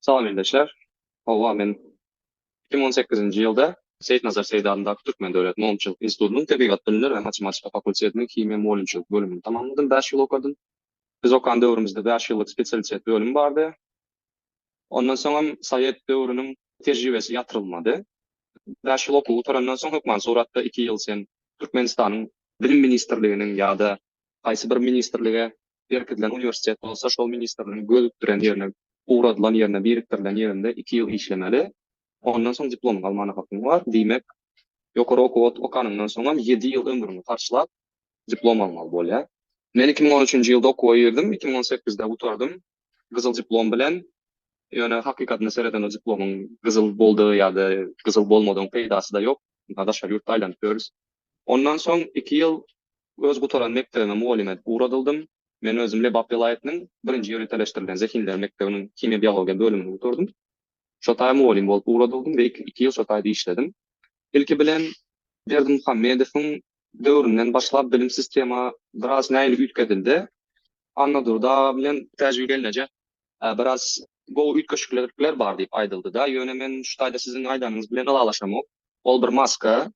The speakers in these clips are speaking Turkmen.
Salam ildeşler. Hawa men iki müň on sekizinji ýylda Seýitnazar Seýdi adyndaky Türkmen döwlet mogynçylyk institutynyň tebigat bilimleri we matematika fakultetiniň himiýa mugallymçylyk bölümini tamamladym bäş ýyl okadym. Biz okan döwrümizde bäş ýyllyk spesialitet bölüm bardy. Ondan soňam sowet döwrüniň tejribesi ýatyrylmady. Bäş ýyl okuw gutarandan soň hökman suratda iki ýyl sen Türkmenistanyň bilim ministrliginiň ýa-da haýsy bir ministrlige Berkidilen uniwersitet bolsa şol ministrligiň gözükdiren ýerine, ugradylan ýerine, birikdirilen ýerinde iki ýyl işlemeli. Ondan soň diplomyňy almana hakyň bar. Diýmek, ýokary okuw ot okanyňdan soňam ýedi ýyl ömrüňi harçlap, diplom almaly bolýar. Men iki müň on üçünji ýylda okuwa girdim, iki müň on sekizde gutardym gyzyl diplom bilen. Ýöne hakykatyna seredende diplomyň gyzyl boldy ýa-da gyzyl bolmadygyň peýdasy-da ýok. Daşary ýurtda aýlanyp ýörüs. Ondan soň iki ýyl Öz gutaran mekdebime mugallym edip ugradyldym. Men özüm Lebap welaýatynyň birinji ýöriteleşdirilen zehinler mekdebiniň himiýa-biologiýa bölümini gutardym. Şo taýa mugallym bolup ugradyldym we iki ýyl şo taýda işledim. Ilki bilen Berdimuhamedowyň döwründen başlap bilim sistema biraz nähili üýtgedildi. Annadurdy aga bilen Täjigül gelneje biraz gowy üýtgeşiklikler bar diýip aýdyldy-da, ýöne men şu taýda siziň aýdanyňyz bilen ylalaşamok. Ol bir maska.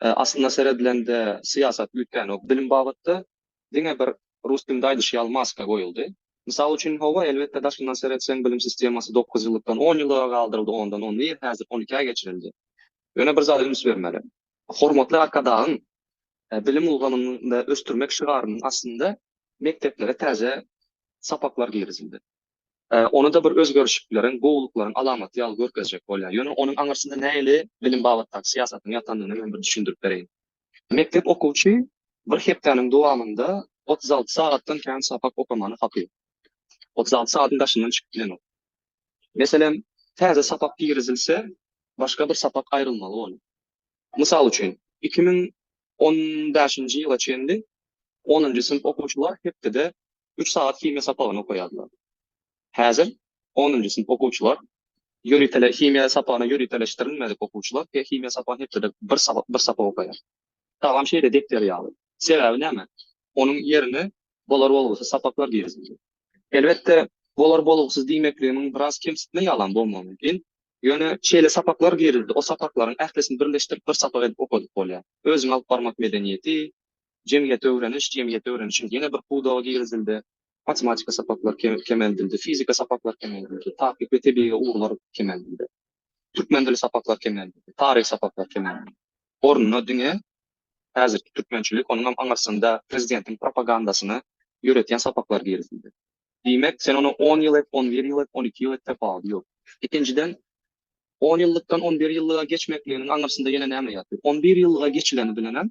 Aslynda seredilende syýasat üýtgänok bilim babatda, diňe bir rus dilinde aýdyş ýaly maska goýuldy. Mysal üçin hawa elbetde daşyndan seretseň bilim sistemasy dokuz ýyllykdan on ýyllyga galdyryldy ondan on bir häzir on ikä geçirildi. Ýöne bir zada üns bermeli. Hormatly Arkadagyň bilim ulgamynda ösdürmek şygarynyň astynda mekdeplere täze sapaklar girizildi. Ony-da bir özgerişikleriň, gowulyklaryň alamaty ýaly görkezjek bolýar. Ýöne onuň aňyrsynda nähili bilim babatdaky syýasatyň ýatandygyny men bir düşündirip bereýin. Mekdep okuwçy bir hepdäniň dowamynda otuz alty sagatdan kän sapak okamany haky. Otuz alty sagatyň daşyndan çykyp bilenok. Meselem, täze sapak girizilse, başga bir sapak aýrylmaly ony. Mysal üçin, iki müň on bäşinji ýyla çenli onunjy synp okuwçylar hepdede üç sagat himiýa sapagyny okaýardylar. Häzir onunjy synp okuwçylar ýöritele himiýa sapagyna ýöriteleşdirilmedik okuwçylar he himiýa sapagyny hepdede bir sapak bir sapak okaýar. Tagam şeýle depder ýaly. Sebäbi näme? Onuň ýerine bolar bolgusyz sapaklar girizildi. Elbetde, bolar bolgusyz diýmekligimiň biraz kemsitme ýalam bolmagy mümkin. Ýöne şeýle sapaklar girildi, o sapaklaryň ählisini birleşdirip bir sapak edip okadyp bolýar. Özüňi alyp barmak medeniýeti, Jemgyýeti öwreniş, jemgyýeti öwrenişiň ýene bir pudagy girizildi. Matematika sapaklar kemeldildi, fizika sapaklar kemeldildi, takyk we tebigy ugurlar kemeldildi. Türkmen dili sapaklar kemeldildi, taryh sapaklar kemeldildi. Ornuna diňe häzirki türkmençilik, onuňam aňyrsynda prezidentiň propagandasyny ýöretýän sapaklar girizildi. Diýmek, sen ony on ýyl et, on bir ýyl et, on iki ýyl et, tapawudy ýok. Ikinjiden, on ýyllykdan on bir ýyllyga geçmekliginiň aňyrsynda ýene näme ýatyr? On bir ýyllyga geçileni bilenem,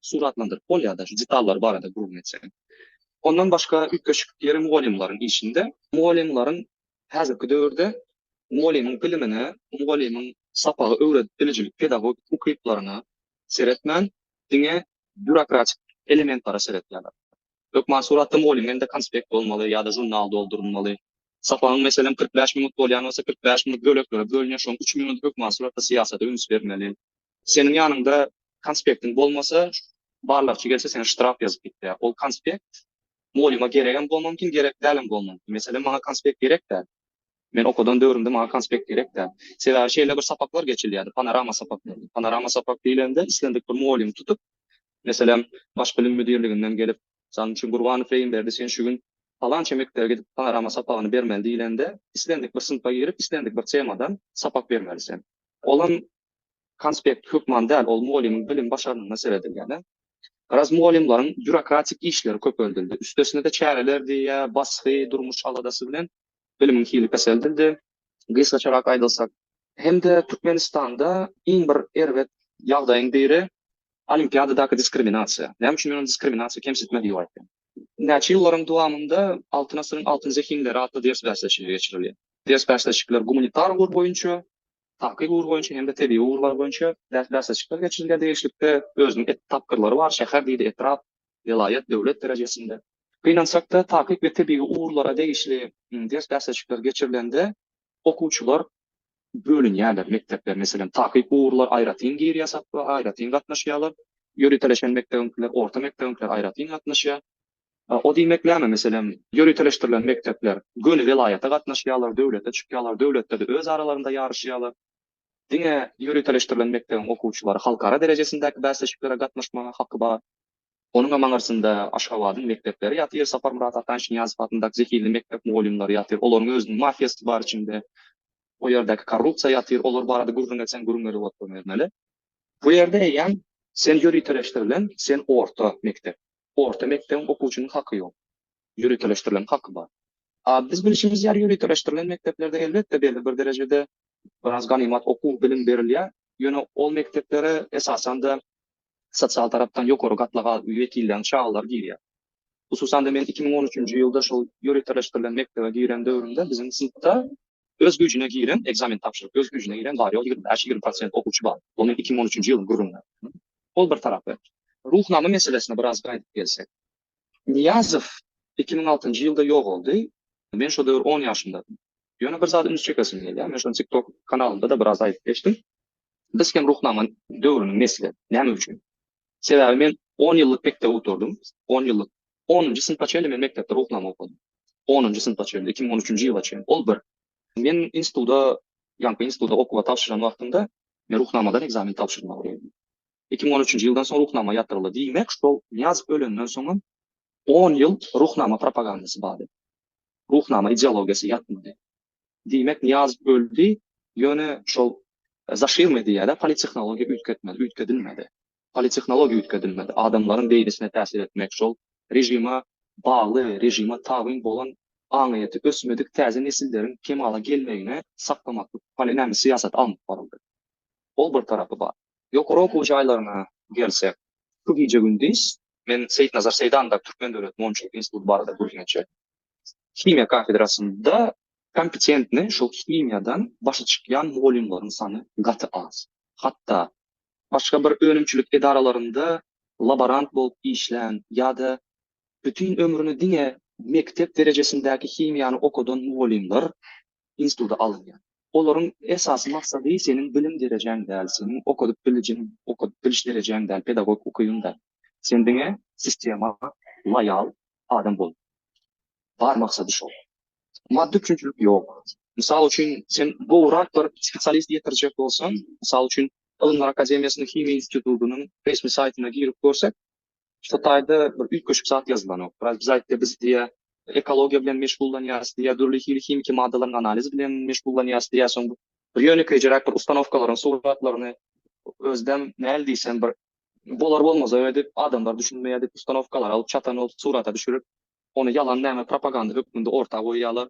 suratlandyryp bolýar-da, şu detallary barada gürrüň etseň. Ondan başga üýtgeşik ýeri mugallymlaryň işinde. Mugallymlaryň häzirki döwürde mugallymyň bilimine, mugallymyň sapagy öwredip bilijilik pedagogik ukyplaryna seretmän, diňe býurokratik elementlere seretýärler. Hökman suratda mugallym elinde konspekt bolmaly ýa-da žurnal doldurylmaly. Sapagyň meselem kyrk bäş minut bolýan bolsa, kyrk bäş minut böleklere bölünýär, şoň üç minudy hökman suratda syýasata üns bermeli. Seniň ýanyňda konspektiň bolmasa, barlagçy gelse seňe ştraf ýazyp gitýär. Ol konspekt mugallima geregem bolma mümkin, gerek dälem bolma mümkin. Meselem, maňa konspekt gerek däl. Men okadan döwrümde maňa konspekt gerek däl. Sebäbi şeýle bir sapaklar geçilýärdi, panorama sapaklary. Panorama sapak diýlende islendik bir mugallymy tutup, meselem, Baş bilim müdirliginden gelip, Mysal üçin, Gurbanow Reýimberdi sen şu gün palança mekdebe gidip panorama sapagyny bermeli diýlende, islendik bir synpa girip, islendik bir temadan sapak bermeli sen. Olam Konspekt hökman däl, ol mugallymyň bilim-başarnygyna seredilýär-de. Garaz, mugallymlaryň býurokratik işleri köpeldildi. Üstesine-de çäreler diýýä, basgy, durmuş aladasy bilen bilimiň hili peseldildi. Gysgaçarak aýdylsak. Hem-de Türkmenistanda iň bir erbet ýagdaýyň biri, olimpiadadaky diskriminasiýa. Näme üçin men ony diskriminasiýa, kemsitme diýip aýtdym? Näçe ýyllaryň dowamynda Altyn asyryň altyn zehinleri atly ders bäsleşigi geçirilýär. Ders bäsleşikler gumanitar ugur boýunça, takyk ugur boýunça hem-de tebigy ugurlar boýunça bäsleşikler geçirilýär diýişlikde, özüniň et tapgyrlary bar, şäher diýdi, etrap, welaýat, döwlet derejesinde. Gynansak-da, takyk we tebigy ugurlara degişli ders-bäsleşikler geçirilende okuwçylar bölünýärler, mekdepler, meselem, takyk ugurlar aýratyn girýär sapba, aýratyn gatnaşýarlar, ýöriteleşen mekdebiňkiler, orta mekdebiňkiler aýratyn gatnaşýar, O diýmek näme, meselem, ýöriteleşdirilen mekdepler göni welaýata gatnaşýarlar, döwlete çykýarlar, döwletde-de öz aralarynda ýaryşýarlar. Diňe ýöriteleşdirilen mekdebiň okuwçylary halkara derejesindäki bäsleşiklere gatnaşmaga haky bar. Onuňam aňyrsynda Aşgabadyň mekdepleri ýatyr, Saparmyrat Ataşnyýazow adyndaky zehinli mekdep mugallymlary ýatyr, olaryň özüniň mafiýasy bar içinde. O ýerdäki korrupsiýa ýatyr, olar barada gürrüň etseň gürrüň gelip oturbermeli. Bu ýerde eýýäm sen ýöriteleşdirilen, sen orta mekdep. Orta mekdebiň okuwçynyň haky ýok. Ýöriteleşdirilen haky bar. A biz bilşimiz ýaly ýöriteleşdirilen mekdeplerde elbetde belli bir derejede biraz ganymat okuw, bilim berilýär. Ýöne ol mekdeplere esasan-da sosial tarapdan ýokary gatlaga wekilden çagalar girýär. Hususan-da men iki müň on üçünji ýylda şol ýöriteleşdirilen mekdebe giren döwrümde biziň synpda Öz güýjüne giren ekzamen tabşyryp, öz güýjüne giren bar, ýok, ýigrimi bäş, ýigrimi prosent okuwçy bar. Bu men iki müň on üçünji ýylyň gürrüňi. Ol bir tarapy. Ruhnama meselesine biraz gaýdyp gelsek. Nyýazow iki müň altynjy ýylda ýogaldy. Men şo döwür on ýaşymdadym. Ýöne bir zady üns çekesim gelýär. Men şony TikTok kanalymda-da biraz aýdyp geçdim. Biz hem Ruhnama döwrüniň nesli. Näme üçin? Sebäbi men on ýyllyk mekdep oturdym, on ýyllyk, onunjy synpa çenli men mekdepde ruhnama okadym. Onunjy synpa çenli, iki müň on üçünji ýyla çenli, ol bir. Men instituda, ýaňky instituda okuwa tabşyran wagtymda, men ruhnamadan ekzamen tabşyrmaly boldum. Iki müň on üçünji ýyldan soň ruhnama ýatyryldy. Diýmek, şol Nyýazow ölenden soňam on ýyl ruhnama propagandasy bardy. Ruhnama ideologiýasy ýatmady. Diýmek Nyýaz öldi, ýöne şol zaşirmi diýýädä politehnologiýa üýtgetmedi, üýtgedilmedi. Politehnologiýa üýtgedilmedi. Adamlaryň beýnisine täsir etmek şol režime bagly, režime tabyn bolan aňyýeti ösmedik täze nesilleriň kemala gelmegini saklamaklyk poli näme syýasat alnyp baryldy. Ol bir tarapy bar. Ýokary okuw jaýlaryna gelsek, şu gije-gündiz men Seýitnazar Seýdanda Türkmen döwlet monçulyk instituty barada gürrüň etjek. himiýa kafedrasynda kompetentni şol himiýadan başy çykýan mugallymlaryň sany gaty az. Hatda başga bir önümçilik edaralarynda laborant bolup işlän ýa-da bütin ömrüni diňe mekdep derejesindäki himiýany okadan mugallymlar instituta alynýar. Olaryň esasy maksady seniň bilim derejäň däl, seniň okadyp bilijiň, okadyp biliş derejäň däl, pedagogik ukybyň däl. Sen diňe sistema loýal adam bol. Bar maksady şol. Maddy üçinçilik ýok. Mysal üçin, sen gowrak bir spesialist ýetirjek bolsaň, mysal üçin, Ylymlar akademiýasynyň Himiýa institutynyň resmi saýtyna girip görsek, şu taýda bir üýtgeşik zat ýazylanok. Biraz biz aýtdy, biz diýýär, ekologiýa bilen meşgullanýarys diýýär, dürli hili himiki maddalaryň analizi bilen meşgullanýarys diýýär. Soň bir ýönekeýjeräk bir ustanowkalaryň suratlaryny özüdem näl diýsem bir Bolar bolmaz öňe dip adamlar düşünmeýär dip ustanowkalary alyp çatan bolup surata düşürip ony ýalan näme propaganda hökmünde orta goýýalar.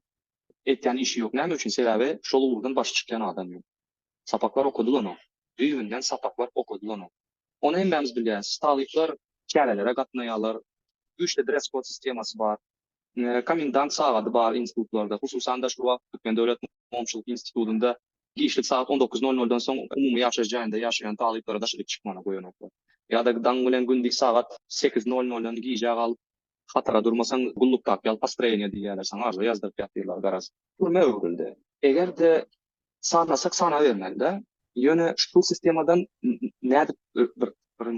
Etýän işi ýok näme üçin sebäbi şol ugurdan başy çykýan adam ýok. Sapaklar okadylanyok. Düýbünden sapaklar okadylanyok. Ony hemmämiz bilýäs talyplar çärelere gatnaýalar. Güýçli dress-kod sistemasy bar. Komendant sagady bar institutlarda, hususan-da şu wagt Türkmen döwlet mugamçylyk institutynda giçlik sagat on dokuz nol noldan soň umumy ýaşaýyş jaýynda ýaşaýan talyplara daşaryk çykmana goýanoklar. Ýa-da daň bilen gündiz sagat sekiz nol noldan gijä galyp hatara durmasaň gulluk tap ýaly postroýeniýe diýýärler saňa arza ýazdyryp ýatyrlar garaz. Türmä öwrüldi. Eger-de sanasak sanabermeli-dä. Ýöne şu sistemadan nädip bir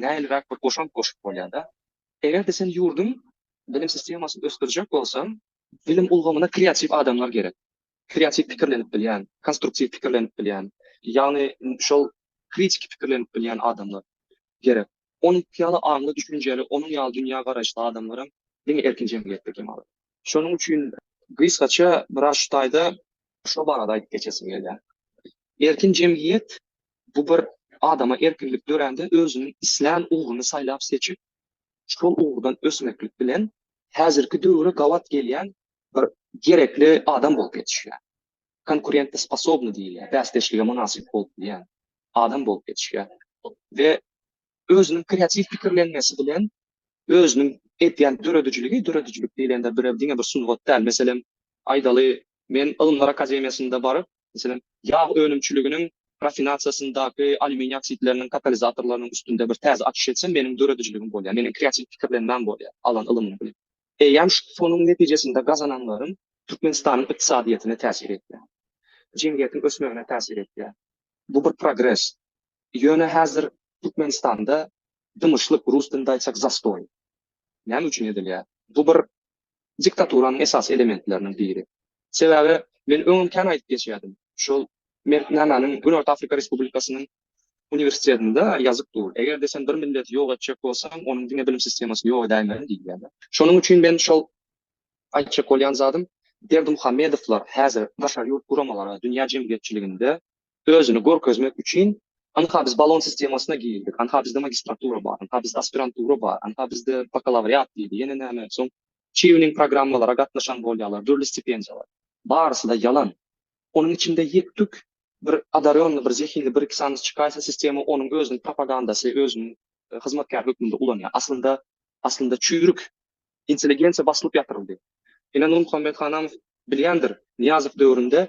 nähiliräk bir goşant goşup bolýar-da. Eger-de sen ýurduň bilim sistemasyny ösdürjek bolsaň, bilim ulgamyna kreatiw adamlar gerek. Kreatiw pikirlenip bilýän, konstruktiw pikirlenip bilýän, ýagny şol kritiki pikirlenip bilýän adamlar gerek. Onuňky ýaly aňly, düşünjeli, onuň ýaly dünýä garaýyşly adamlaram diňe erkin jemgyýetde kem alar. Şonuň üçin gysgaça biraz şu taýda şo barada aýdyp geçesim gelýär. Erkin jemgyýet Bu bir adama erkinlik dörände özüniň islän ugruny saýlap-seçip, şol ugurdan ösmeklik bilen häzirki döwre gabat gelýän bir gerekli adam bolup ýetişýär. Konkurentosposobny diýilýär, bäsdeşlige mynasyp bolup bilýän adam bolup ýetişýär we özüniň kreatiw pikirlenmesi bilen özüniň edýän döredijiligi, döredijilik diýlende bir diňe bir sungat däl, meselem, aýdaly, men Ylymlar akademiýasynda baryp, Meselem, ýag önümçiliginiň rafinasiýasyndaky alýuminiý oksidleriniň katalizatorlarynyň üstünde bir täze açyş etsem, meniň döredijiligim bolýar, meniň kreatiw pikirlenmäm bolýar, alan ylymym bilen. Eýýäm şonuň netijesinde gazananlarym Türkmenistanyň ykdysadyýetine täsir etýär, jemgyýetiň ösmegine täsir etýär. Bu bir progres. Ýöne häzir Türkmenistanda dymyşlyk, rus dilinde aýtsak, zastoý. Näme üçin edilýär? Bu bir diktaturanyň esasy elementleriniň biri. Sebäbi men öňem kän aýdyp geçýärdim, şol Mertnamanyň Günorta Afrika Respublikasynyň uniwersitetinde ýazyp dur, Eger-de sen bir milleti ýok etjek bolsaň, onuň diňe bilim sistemasyny ýok edäýmeli diýilýärdi. Şonuň üçin men şol aýtjak bolýan zadym, Berdimuhamedowlar häzir daşary ýurt guramalara, dünýä jemgyýetçiliginde özüni görkezmek üçin Anha biz balon sistemasyna girdik, anha bizde magistratura bar, anha bizde aspirantura bar, anha bizde bakalawriat diýdi, ýene näme, soň Çýuning programmalara gatnaşan bolýarlar, dürli stipendiýalar. Barysy-da ýalan. Onuň içinde ýek-tük bir odarýonly, bir zehinli bir-iki sany çykaýsa, sistema onuň özüniň propagandasy, özüniň hyzmatkär hökmünde ulanýar. Aslynda, aslynda çüýrük intelligensiýa basylyp ýatyryldy. Ine, Nurmuhammet Hanamow bilýändir, Nyýazow döwründe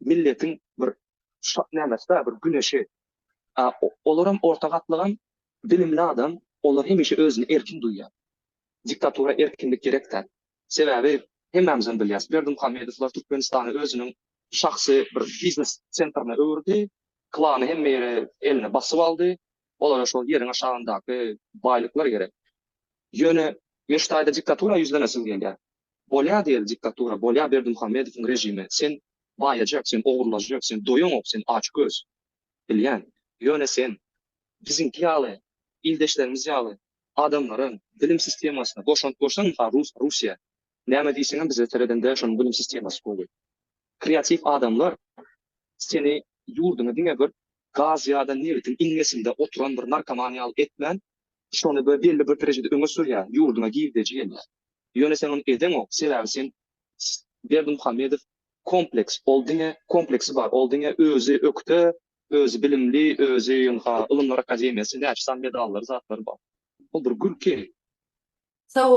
milletiň bir nämesidä bir güneşi. A olaram orta gatlygam bilimli adam, olar hemişe özüni erkin duýýar. Diktatura erkinlik gerek däl. Sebäbi hemmämizem bilýäs, Berdimuhamedowlar Türkmenistany özüniň şahsy bir biznes sentrine öwürdi, klany hemme ýeri eline basyp aldy, Olara şol ýeriň aşagyndaky baýlyklar gerek. Ýöne men şu taýda diktatura ýüzlenesim gelýär. Bolýa diýeli diktatura, bolýa Berdimuhamedowyň režimi. Sen baýajak, sen ogurlajak, sen doýaňok, sen açgöz. Bilýän. Ýöne sen biziňki ýaly, ildeşlerimiz ýaly adamlaryň bilim sistemasyna goşant goşsaň, mysal, rus, Russiýa, näme diýseňem bize seredende şonuň bilim sistemasy gowy. Kreatiw adamlar seni ýurduňy diňe bir gaz ýa-da nebitiň iňňesinde oturan bir narkoman ýaly etmän, şony we belli bir derejede öňe sürýän, ýurduňa girdeji gelýär. Ýöne sen ony edeňok, sebäbi sen Berdimuhamedow kompleks, ol diňe kompleksi bar, ol diňe özi ökde, özi bilimli, özi ynha, ylymlar akademiýasy, näçe sany medallary, zatlary bar. Ol bir gülki. Sag bol.